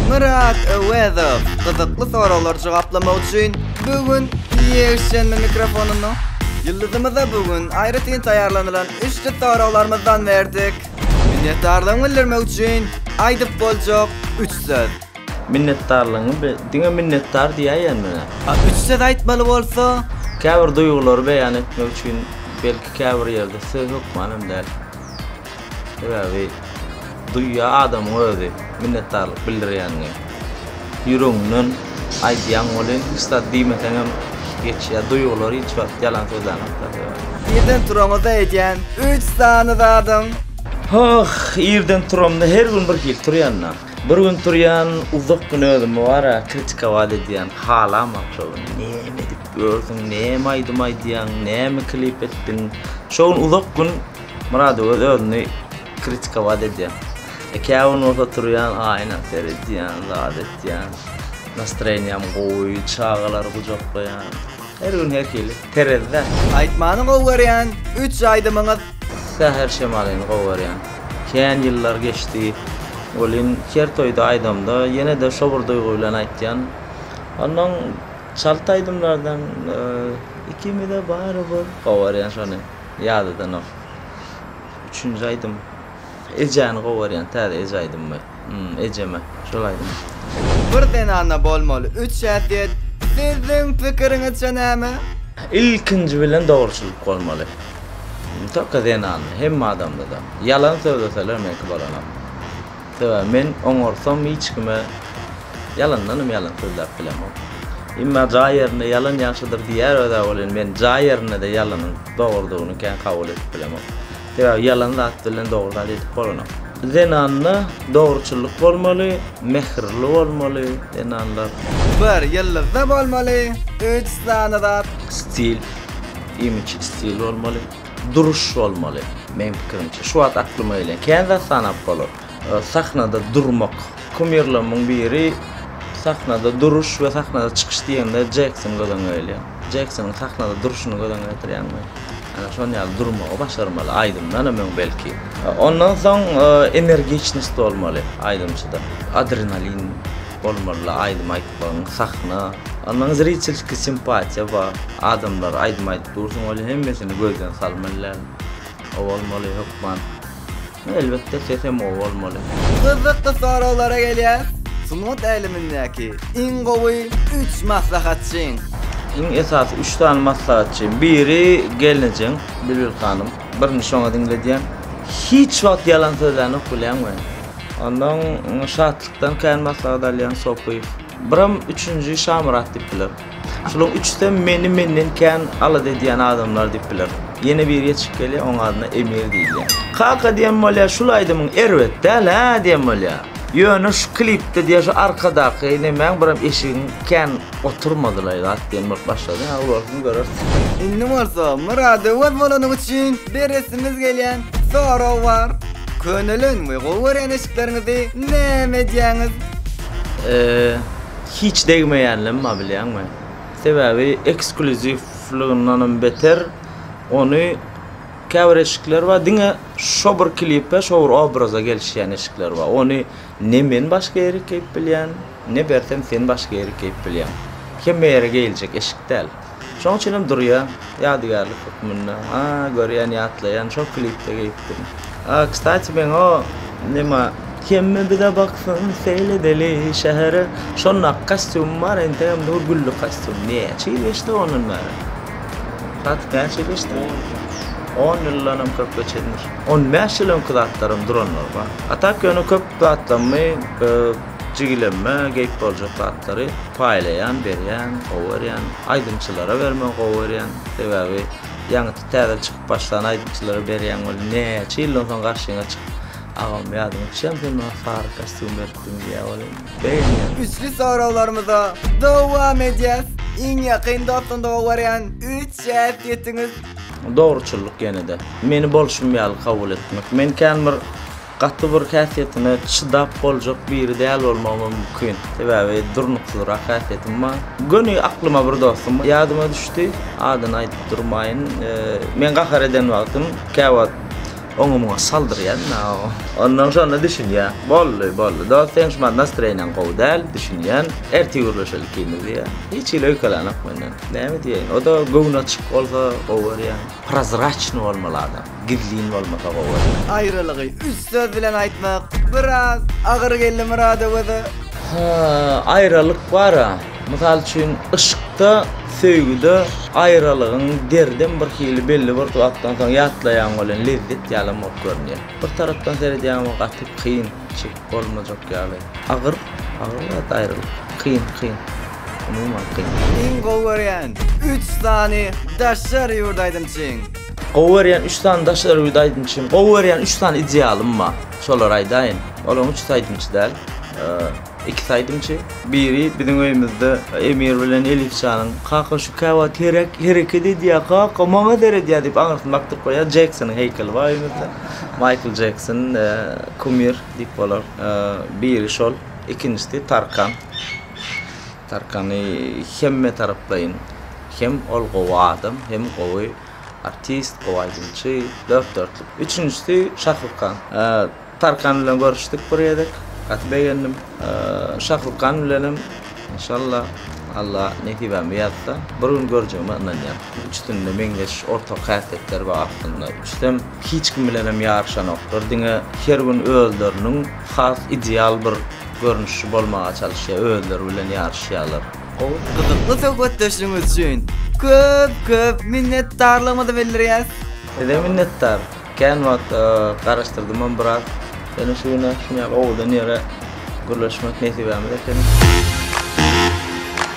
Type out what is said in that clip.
Myrat Öwezow gyzykly soraglary jogaplamak üçin bu gün ýeşenme mikrofonunu ýyldyzymyza bu gün aýratyn taýýarlanylan üçli soraglarymyzdan berdik. Minnetdarlygymy bildirmek üçin aýdyp boljak üç söz. Minnetdarlygyňy bi, diňe minnetdar diýäýen menä. A üç söz aýtmaly bolsa? Käbir duýgulary beýan etmek üçin belki käbir ýerde söz hökmanam däl. Sebäbi duýýar adamyň özi minnetdarlyk bildirýänini. Ýüregiňden aýdýaň welin hiç zat diýmeseňem geçýär. Duýgular hiç wagt ýalan sözlänokda sebäbi. Irden turaňyzda edýän üç sany zadyň? Hoh, irden turamda her gün bir hili turýan-da. Bir gün turýan, uzak gün özümi bar-a kritika wada edýän, halaman şo gün näme edip ýörsüň, näme aýdym aýdýaň, näme klip etdiň. Şo gün uzak gün. Murady öz özüni kritikowat edýän. E käwin bolsa turýan aýna seredýän, zat etýän. Nastreniýam gowy, çagalary gujaklaýan. Her gün her hili. Terezde. Aýtmany gowy görýän üç aýdymyňyz. Säher şemalyny gowy görýän. Kän ýyllar geçdi. Welin her toýda aýdamda ýene-de şo bir duýgy bilen aýtýan. Onnoň çalt aýdymlardan Ikimize barybir gowy görýän şony. Ýadadanok. Üçünji aýdym. Ejäni gowarýan täze eje aýdymmy? Hum ejeme şol aýdym. Bir zenanda bolmaly üç häsiýet siziň pikiriňizçe näme? Ilkinji bilen dogruçylyk bolmaly. Tolko zenanda hemme adamdada. Ýalan sözleseler meňki bolanok. Sebäbi men oňarsam hiç kime ýalandanam ýalan sözläp bilemok. Emma jaý ýerinde ýalan ýagşydyr diýýär öz-ä ol indi men jaý ýerinde-de ýalanyň dogrudygyny kän kabul edip bilemok. Sebäbi ýalan zat bilen dogry zat edip bolanok. Zenanda dogruçyllyk bolmaly, mähirli bolmaly zenanlar. Bir ýyldyzda bolmaly, üç sany zat. Stil, imidj stil bolmaly. duruş bolmaly. Meň pikirimçe, şu wagt aklyma gelen kän zat sanap bolar. Sahnada durmak. Kumirlerimin biri sahnada duruş we sahnada çykyş diýende Jekson göz öňüňe gelýär. Jeksonyň sahnada duruşyny göz öňüňe getirýäňmi? Ana şon ýaly durmagy başarmaly, aýdymdanam öň belki. Ondan soň energiçnost bolmaly aýdymçyda. Adrenalin. bolmalyla aýdym aýtmagyň sahna ondan zritelski simpatiýa bar adamlar aýdym aýdyp dursuň welin hemmesini gözden salmalyl o bolmaly hökman no elbetde ses hem gowy bolmaly. Gyzykly soraglara gelýäs sungat älemindäki iň gowy üç maslahatçyň. Iň esasy üç sany maslahatçy biri gelnejeň Bilbil hanym birini şoňa diňledýän hiç wagt ýalan sözlänok bilýäňmi. Ondan Şatlykdan kän maslahat alýan Sopyýew. Biram üçünji Şamyrat diýip biler. Şularyň üçüsem meni menden kän alada edýän adamlar diýip biler. Ýene biri ýetişip gelýär, onuň adyna Emir diýilýär. Kaka diýen bolýar, şul aýdymyň erbet däl-ä diýen bolýar. Ýöne şu klipde diýýär, şu arkadaky nemäň biram eşigiň kän Oturmadylaý zat diýen bolup başlady. Aw bolsun göreris. Indi bolsa myradyňyz bolany üçin beresimiz gelýän sorag bar. Könelen we gowy görýän eşikleriňizi näme edýäňiz? Eee hiç degmeýänlem bar bilýäňmi? Sebäbi eksklýuziwlygyndanam beter ony käbir eşikler bar diňe şo bir klipe şo bir obraza gelişýän eşikler bar ony Ne men başga ýeri keýp bilýän, ne bersem sen başga ýeri keýp bilýäň. Hemme ýere geýiljek eşik däl. Şoň üçinem durýa, ýadygärlik hökmünde. A, görýän, ýatlaýan, şol klipde geýipdim. A, kstati, meň o, nima. Hemme bize baksyn, seýledeli şähere. Şondaky kostýumym bar, entegem dur gülli kostýum. Näçe ýyl geçdi ondan bäri? Kstatik, näçe ýyl geçdi? On ýyldan. On ýyldanam köp geçendir. On bäş ýyl öňki zatlarym duranlar bar. A tak ýöne köp zatlarymy jigilemime geýip boljak zatlary paýlaýan, berýän, gowy görýän. Aýdymçylara bermegi gowy görýän. Sebäbi ýaňyty täze çykyp başlan aýdymçylara berýäň welin näçe ýyldan soň garşyňa çykyp Agam ýadyňa düşýämi sen maňa sary kostýum beripdiň diýýä welin begenýän. Üçli soraglarymyza dowam edýäs. Iň ýakyn dostum doly görýän üç şähit ýetiňiz. Dogruçyllyk ýene-de. Meni bolşum ýaly kabul etmek. Men kän bir gaty bir häsiýetine çydap boljak biri däl bolmagym mümkin. Sebäbi durnuksyzrak häsiýetim bar. Göni aklyma bir dostum ýadyma düşdi. Adyny aýdyp durmaýyn. Men gahar eden wagtym käwagt Oňa muňa saldyrýan da o. Ondan şonda düşünýär. Boldy, boldy. Dost seň şumat nastroýeniň gowy däl, düşünýän. Ertir gürleşeli ikimiz diýýär. Hiç hili öýkelänok menden. Näme diýeýin. O-da göwni açyk bolsa gowy görýän. Prozraçnyý bolmaly adam. Gizlin bolmasa gowy görýän. Aýralygy üç söz bilen aýtmak biraz agyr geldi Myradowa-da. Hä, aýralyk bar-a. Mysal üçin, yşkda, söýgüde aýralygyň derdem bir hili belli bir wagtdan soň ýatlaýaň welin lezzet ýalam bolup görünýär. Bir tarapdan seredýäň we gaty kyn, çekip bolmajak ýaly. Agyr, agyr zat aýralyk. Kyn, kyn. Umuman kyn. Iň gowy görýän üç sany daşary ýurt aýdymçyň? Gowy görýän üç sany daşary ýurt aýdymçym, gowy görýän üç sany idealym bar. Şolary aýdaýyn. Olaryň üçüsi aýdymçy däl. Iki saýdymçy. Biri biziň öýümizde Emir bilen Elifjanyň, Kaka şu käwagt herek, hereket edýär kaka, maňa seredýär diýip aňyrsyny bakdyryp goýýar. Jeksonyň heýkeli bar öýümizde. Maýkl Jekson, kumir diýip bolar. Biri şol, ikinjisi Tarkan. Tarkany hemme taraplaýyn hem ol gowy adam, hem gowy artist, gowy aýdymçy, dört-dörtlük. Üçünjisi Şahrukan. Tarkan bilen görüşdik bir gezek. Gaty begendim. Şahrukan bilenem inşalla Alla nesibämi ýazsa bir gün görjegime ynanýan. Üçüsinde meňzeş ortak häsiýetler bar aslynda. Üçüsem hiç kim bilenem ýaryşanoklar. Diňe her gün özleriniň has ideal bir görnüşi bolmaga çalyşýar. Özleri bilen ýaryşýarlar. Gowy, gyzykly söhbetdeşligiňiz üçin köp köp minnetdarlygymyzy bildirýäs. Size minnetdar. Kän wagt garaşdyrdymam biraz. Ýöne şu güne şuny ýaly owadan ýere gürleşmek nesibämiz ekeni.